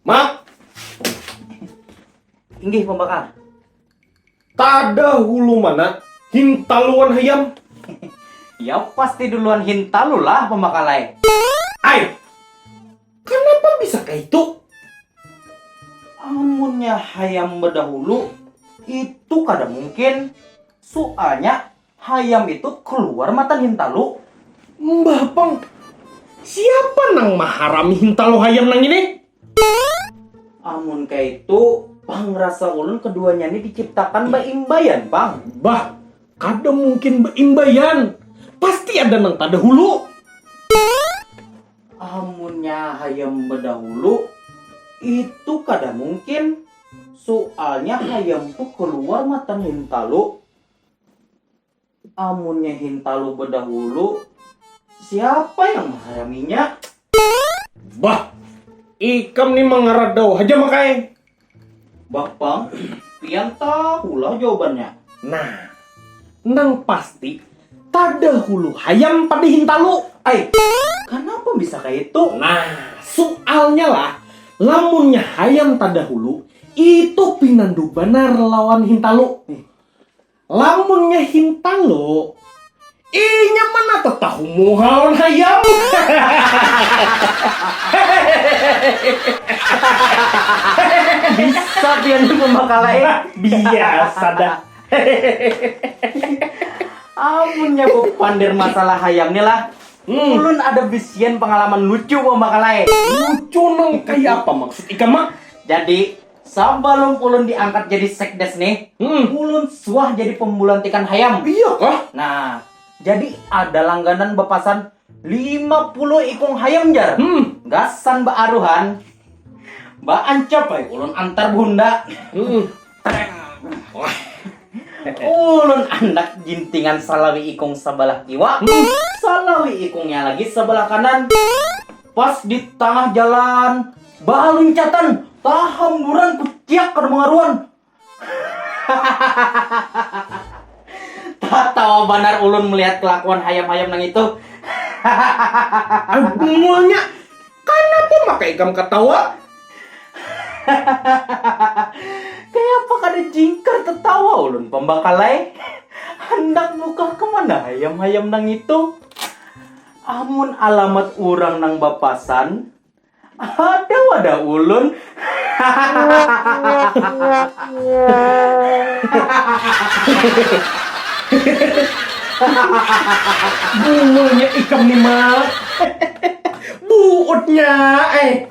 Mak. Inggih pembakar. Tada hulu mana hintaluan hayam. Ya pasti duluan hintalu lah pembakalai. Ai. Kenapa bisa kayak itu? Amunnya hayam bedahulu itu kada mungkin. Soalnya Hayam itu kluar matan hintalu. Mbah pang, siapa nang maharami hintalu hayam nang ini? Amun kaitu, pang rasa ulun keduanya ni diciptakan baimbaian pang. Bah, kada mungkin baimbaian, pasti ada nang tadahulu. Amunnya hayam badahulu, itu kada mungkin, sualnya hayam tu kluar matan hintalu, Amunnya hintalu bedahulu, siapa yang menghayaminya? Bah, ikam ni mengeradau haja makai. Bapang, pian tahulah jawabannya. Nah, nang pasti tadahulu hayam pada hintalu. Ai, kenapa bisa kayak itu? Nah, soalnya lah, lamunnya hayam tadahulu, itu pinandu banar lawan hintalu. Lamunnya hintalo, inya mana tetahu muha lawan hayam. Bisa pian ni pembakala eh. Biasa dah. Amunnya bepander masalah hayam ni lah, hmm. ulun ada bisian pengalaman lucu pembakala eh. Lucu nang kaya apa maksud ikam mak? Jadi Sabalum ulun diangkat jadi sekdes nih, hmm. ulun suah jadi pembulantikan hayam. Iya kah? Nah, jadi ada langganan bepasan 50 ikung hayam jar. Hmm. Gasan baaruhan, baancap ay, ulun antar bunda. Hmm. ulun anak jintingan salawi ikung sebelah kiwa, hmm. salawi ikungnya lagi sebelah kanan. Pas di tangah jalan, baluncatan, tahamburan kuciak kada mangaruan. Tatawa banar ulun melihat kelakuan hayam-hayam nang itu. Bungulnya, kanapa maka ikam katawa? Kayapa kada jingkar tatawa ulun pambakalai. Handak bukah kemana hayam-hayam nang itu? Amun alamat urang nang bapasan, ada wadah ulun. Bungulnya ikam ni Mak. Buutnya ai.